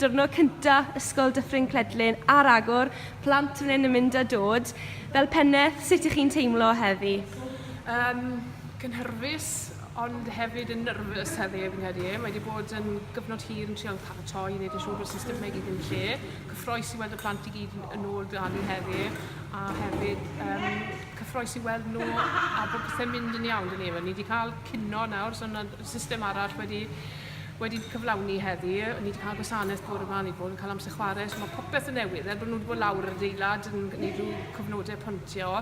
Diwrnod cynta Ysgol Dyffryn Cledlyn ar agor, plant fan hyn yn mynd a dod. Fel pennaeth, sut ych chi'n teimlo heddi? Yym, cynhyrfus, ond hefyd yn nyrfys heddi fi'n credu. Mae wedi bod yn gyfnod hir yn trial paratoi i wneud yn siŵr bod systemau i gyd yn lle. Cyffroes i weld y plant i gyd yn ôl dan ni heddi, a hefyd yym, cyffroes i weld nhw a bod pethau'n mynd yn iawn dyn ni. Ni wedi cael cino nawr, so yna system arall wedi, wedi cyflawni heddi. Ni wedi cael gwasanaeth bore yma, ni wedi bod yn cael amser chwarae, so mae popeth yn newydd. Er bod nhw wedi bod lawr yr adeilad yn gwneud rhyw cyfnodau pontio,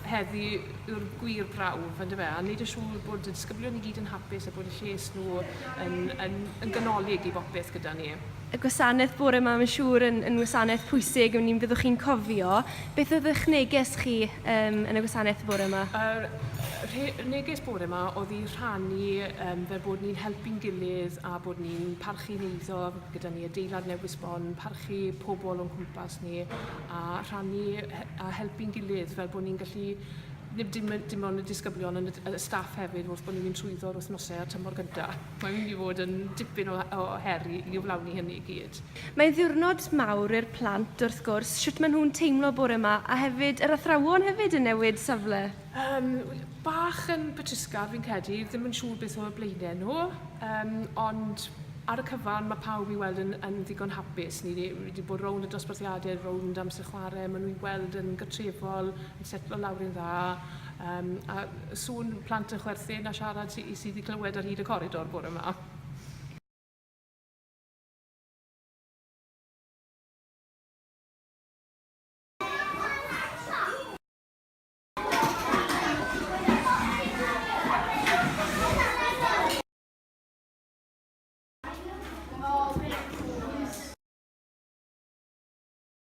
heddi yw'r gwir brawf, ynddo fe, a wneud yn siŵr bod y disgyblion i gyd yn hapus a bod y lles nhw yn, yn, yn ganolig i bopeth gyda ni. y gwasanaeth bore yma, mae'n siŵr yn, yn wasanaeth pwysig, ni'n byddwch chi'n cofio. Beth oedd eich neges chi um, yn y gwasanaeth bore yma? Yr uh, neges bore yma oedd i rhannu um, fel bod ni'n helpu'n gilydd a bod ni'n parchu neiddo gyda ni adeilad newydd sbon, parchu pobl o'n cwmpas ni a rhannu a helpu'n gilydd fel bod ni'n gallu ddim dim, dim ond y disgyblion ond y staff hefyd wrth bod ni'n mynd trwyddo'r wythnosau a'r tymor gyntaf. Mae'n mynd i fod yn dipyn o o her i i gyflawni hynny i gyd. Mae'n ddiwrnod mawr i'r plant, wrth gwrs, shwt maen nhw'n teimlo bore 'ma, a hefyd yr athrawon hefyd yn newid safle? Yym, bach yn betrusgar fi'n credu, ddim yn siŵr beth o'u blaenau nhw, yym, ond ar y cyfan mae pawb i weld yn yn ddigon hapus. Ni ni wedi bod rownd y dosbarthiadau, rownd amser chwarae, maen nhw i weld yn gartrefol, yn setlo lawr yn dda, Yym, a sŵn plant yn chwerthin a siarad sy, sydd i glywed ar hyd y coridor bore ma.